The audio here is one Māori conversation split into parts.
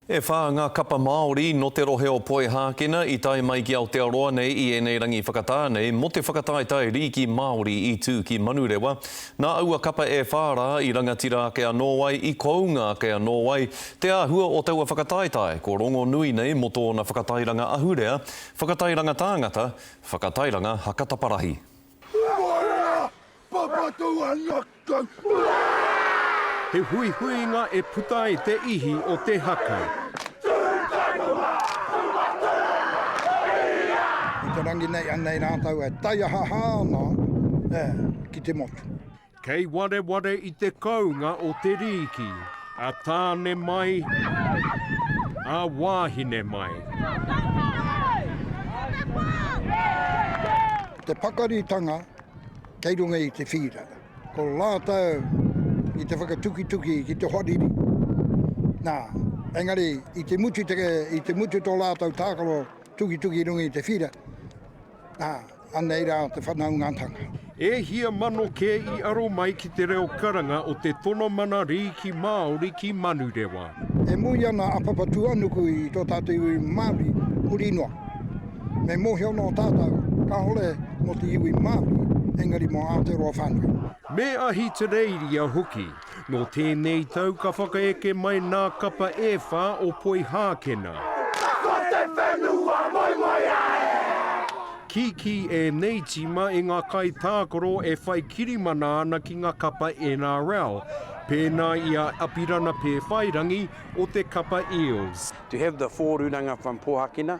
E whā ngā kapa Māori nō te rohe o Poihākena i tae mai ki Aotearoa nei i ēnei rangi whakatā nei mō te whakataetae rīki Māori i tū ki Manurewa. Nā aua kapa e whā rā i rangatira ake anō ai, i kounga ake anō ai te āhua o taua whakataetae ko rongonui nei mō tōna whakatairanga ahurea, whakatairanga tāngata, whakatairanga hakataparahi. He huihuinga e puta ai te ihi o te haka. Ki te rangi nei, anei rātou e taiahaha ana ki te motu. Kei wareware i te kounga o te rīki, a tāne mai, a wāhine mai. Te pakaritanga kei runga i te whīra. Ko rātou i te whakatukituki ki te hoariri. Nā, engari i te mutu, i te mutu tō rātou tākaro tukituki runga i te whīra, nā, Anei rā te whanaungatanga. E hia mano kē i aro mai ki te reo karanga o te tono mana rīki Māori ki Manurewa. E mui ana a Papatūānuku i tō tātou iwi Māori huri noa. Me mōhio nō tātou, kāore mō te iwi Māori, engari mō Aotearoa whānui. Me Ahitereiria hoki. Nō tēnei tau ka whakaeke mai nā kapa e whā o Poihākena. Ka ko te whenua moemoeā e! Kīkī ēnei tīma e ngā kaitākaro e whai kirimana ana ki ngā kapa NRL, pēnā i a Apirana Pēwhairangi o te kapa Eels. To have the four ruranga from Pohakena,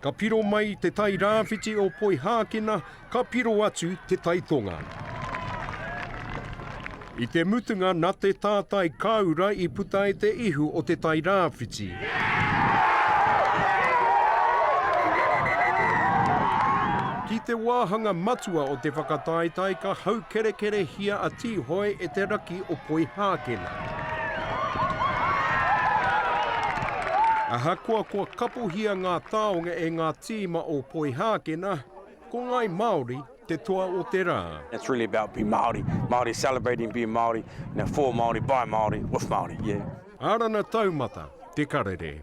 Ka piro mai te tai rāwhiti o Poihākina, ka piro atu te tai tonga. I te mutunga na te tātai kāura i puta e te ihu o te tai rāwhiti. Ki te wāhanga matua o te whakataetae ka haukerekerehia a Tīhoe e te raki o Poihākina. Ahakoa kua kapohia ngā taonga e ngā tīma o Poihākena, ko Ngāi Māori te toa o te rā. It's really about being Māori, Māori celebrating being Māori, for Māori, by Māori, with Māori, yeah. Arana Taumata, Te Karere.